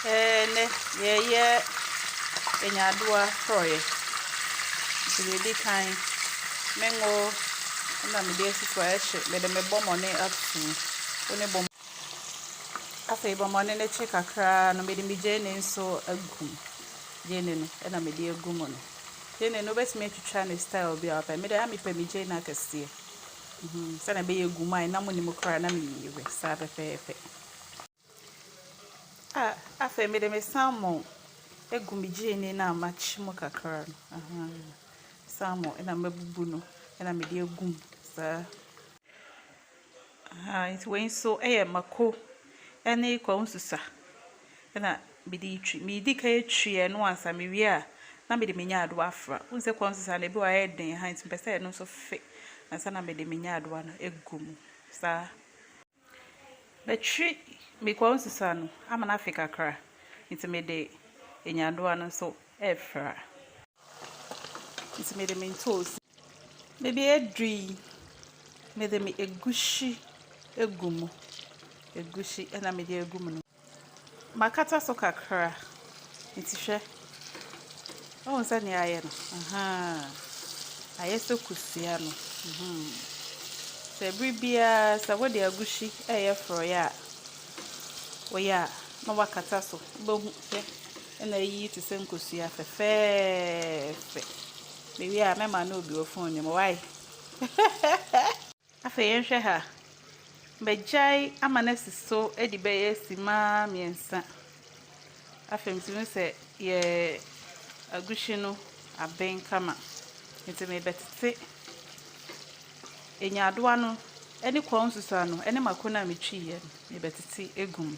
Ɛɛ, nnɛ yɛreyɛ nyadoa forɔeɛ. Nti deɛ ɛdi kan, me ngo na mede asi so a, ɛhye. Mede me bɔmmɔne ato mu. Wo ne bɔm. Afei bɔmmɔne no kye kakra ara no, mede me gyeene nso agu mu. Gyeene no na mede agu mu no. Gyeene no, wobɛtumi atwitwa no style biara a wopɛ. Me deɛ, mepɛ me gyeene akɛseɛ. Sɛdeɛ ɛbɛyɛ ɛgu mu a, ɛnam nni mu koraa na meyiyi we saa pɛpɛɛpɛ. A Afei mede me salmon agu me gyeene no a makye mu kakra no, ahaa, salmon na mabubu no na mede agu mu saa. Ahaa, nti wei nso yɛ mako ne kwansusa na mede retwi. Medi kan twi ɛno ansa, mewie a na mede me nyaadowa afra. Wohu sɛ kwansusa no ebi wɔ hɔ a ɛyɛ den, ahaa, nti mepɛ sɛ ɛno nso fe ansa na mede me nyaadowa no agu mu saa. Batwi me kɔn sesa no ama no afe kakra nti me de nyandoa no nso refra nti me de me ntoosi me de aduru yi me de me egusi egu mu egusi ɛna me de egu mu no. Makata so kakra, nti hwɛ. Woahu sɛdeɛ ayɛ no? Ahaa. Ayɛ sɛ kosua no. Mhmm. Sɛ bere biara sɛ wode agushi reyɛ forɔeɛ a, woyɛ a na woakata so. Wobɛhu sɛ na ayiyi te sɛ nkosua fɛfɛɛfɛ. Mewie a, mɛma no obi wɔ phone no mu. Why? Afei yɛnhwɛ ha. Magyae ama no asi so adi bɛyɛ simma mmiɛnsa. Afei metumi hu sɛ yɛn aguhyi no aben kama. Nti merebɛtete nyaadowa no ne kɔn nsusuaa no ne mako no a metwiiɛ no, merebɛtete agu mu.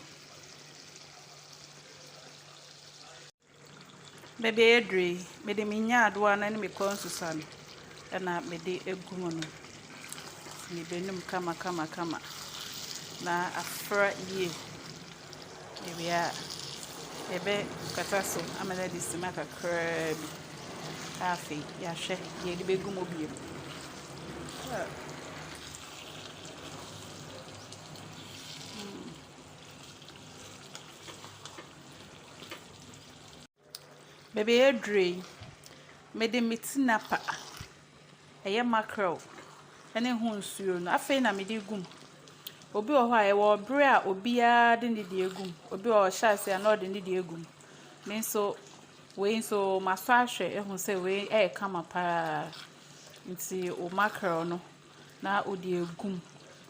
Baabi a yɛaduru yi, mede me nyaadowa no ne me kɔnsusa no na mede agu mu no. Mebɛnum kamakamakama na afra yie. Mewie a, mɛkata so ama no adi simma kakraa bi na afei yɛahwɛ deɛ yɛde bɛgu mu bio. Baabi a yɛaduru yi, mede me tinapa, ɛyɛ mackerel ne ho nsuo no, afei na mede regu mu. Obi wɔ hɔ a, ɛwɔ berɛ a obiara de ne deɛ gu mu. Obi wɔ hɔ a, ɔhyɛ aseɛ a, na ɔde ne deɛ gu mu. Me nso, wei nso masɔ ahwɛ ahu sɛ wei yɛ kama pa ara. Nti wo mackerel no, na wode agu mu.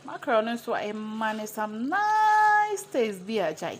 Mackerel no nso, ɛma no some nice taste bi a, gyae.